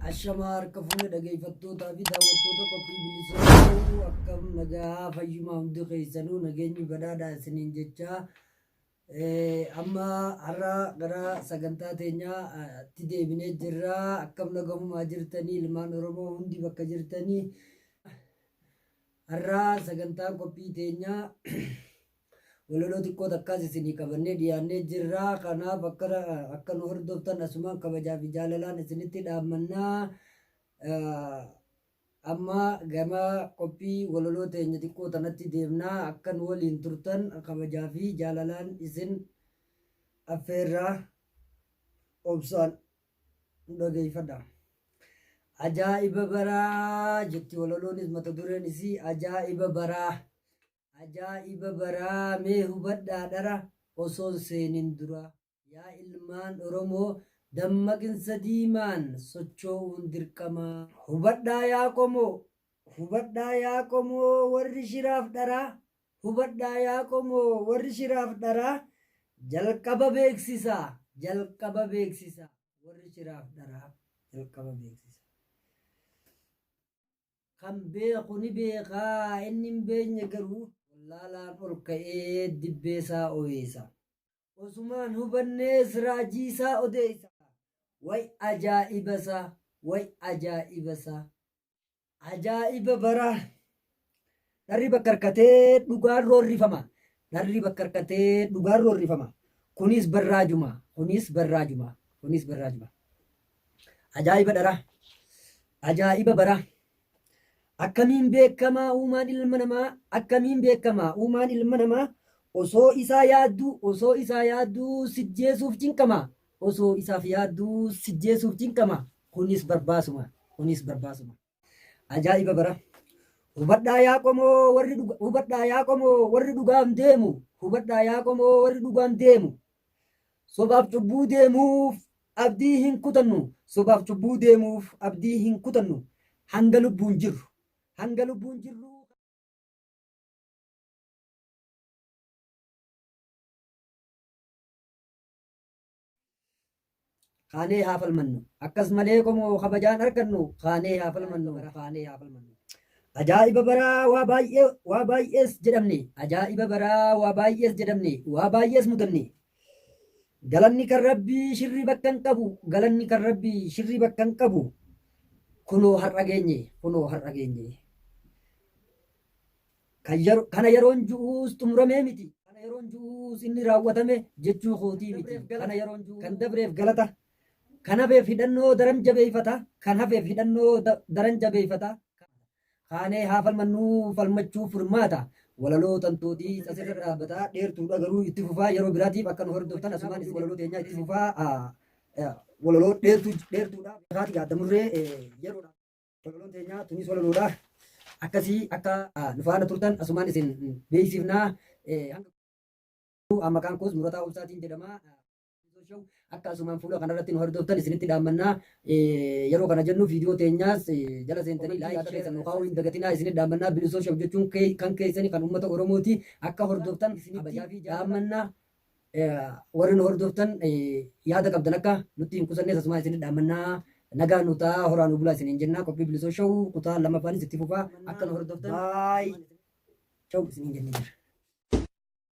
Ashamaa harka fuune dhageeffattootaa fi daawwattoota qophii bilisummaa akkam nagaa fayyumaa hundi keessanuu nageenyi badhaadhaa isiniin jechaa Amma har'a gara sagantaa teenyaatti deebinee jirra. Akkam nagahumaa jirtanii ilmaan Oromoo hundi bakka jirtanii. Har'a sagantaan qophii teenyaa walaloo xiqqoo takkaas isinii qabannee dhiyaannee jirra. Kanaaf akka akka nu hordoftan asumaan kabajaa fi jaalalaan isinitti dhaammannaa. Amma gama qophii walaloo teenya xiqqoo tanatti deemna. Akka nu waliin turtan kabajaa fi jaalalaan isin affeerra. Obsaan nu dhageeffadha. Ajaa'iba baraa jetti walaloonis mata dureen isii ajaa'iba baraa. Ajaa'iba baraa mee hubadhaa dhara osoon seenin duraa. Yaa ilmaan Oromoo, dammaqinsa diimaan sochoo'uun dirqama. Hubadhaa yaa qomoo! Hubadhaa yaa qomoo warri shiraaf dharaa! Hubadhaa yaa qomoo warri shiraaf dharaa! Jalqaba beeksisa! Jalqaba beeksisa! Warri shiraaf dharaa jalqaba beeksisa! Kan beeku ni beeka, inni hin beekne garuu. Wallaalaan ol ka'ee dibbee isaa oweesa. Osumaan hubannee siraajii isaa odeessa. Way ajaa'iba isaa, way ajaa'iba isaa. Ajaa'iba baraa. Dharri bakka harkatee dhugaan roorrifama. Dharri bakka harkatee dhugaan roorrifama. Kunis barraajuma. Kunis barraajuma. Kunis barraajuma. Ajaa'iba dharaa. Ajaa'iba baraa. Akkamiin beekama uumaan ilma namaa Akkamiin beekama uumaan ilma namaa Osoo isaa yaadduu Osoo isaa yaadduu sijjeesuuf cinqama Osoo isaaf yaadduu sijjeesuuf cinqama Kunis barbaasuma Kunis barbaasuma. Ajaa'iba bara Hubadhaa yaa qomoo warri dhuga Hubadhaa yaa qomoo warri dhugaaf deemu Hubadhaa yaa qomoo warri dhugaaf deemu Sobaaf cubbuu deemuuf abdii hin kutannu. Sobaaf cubbuu deemuuf abdii hin kutannu. Hanga lubbuun jirru. Hanga lubbuun jirru. Kaanee haa falmannu. Akkas malee qomoo kabajaan argannu. Kaanee haa falmannu. Kaanee haa falmannu. Ajaa'iba baraa waa baay'ee waa baay'ees jedhamne. Ajaa'iba baraa waa baay'ees jedhamne. Waa baay'ees mudanne. Galanni kan Rabbii shirrii bakka hin qabu Galanni kan Rabbii shirrii bakka hin qabu Kunoo har'a geenye Kunoo har'a geenye Kan yero- Kana yeroon ju'uus xumuramee miti Kana yeroon ju'uus inni raawwatame jechuu kootii miti Kana yeroon ju'uus kan dabreef galata Kan hafeef hidhannoo daran jabeeffata Kan hafeef hidhannoo da- daran jabeeffata Kaanee haa falmannuu falmachuuf furmaata walaloo tantootiis asirra dhaabbata dheertuudha garuu itti fufaa yeroo biraatiif akka nu hordoftan asumaan isin walaloo teenyaa itti fufaa ah, eh, walaloo dheertuu dheertuudha kaati gaadda murree eh, yeroodha walaloon teenyaa tunis walaloodha akkasii akka ah, nu faana turtan asumaan isin beeksifnaa eh, hanga Ah, maqaan koos Murataa Obsaatiin jedhama. Akka asumaan fuula kanarratti nu hordoftan isinitti dhaammannaa yeroo kana jennu viidiyoo teenyaas jala seentanii laayik keessa nu kaa'uu hin dagatinaa isinitti dhaammannaa bilisoo shaf jechuun kan keessani kan uummata Oromooti akka hordoftan isinitti dhaammannaa warri nu hordoftan yaada qabdan akka nutti hin qusannees asumaan isinitti dhaammannaa nagaa nu ta'a horaa nu bulaa isiniin jennaa qophii bilisoo shawuu kutaa lammaffaanis itti fufaa akka nu hordoftan baay shawuu isiniin jennee jira.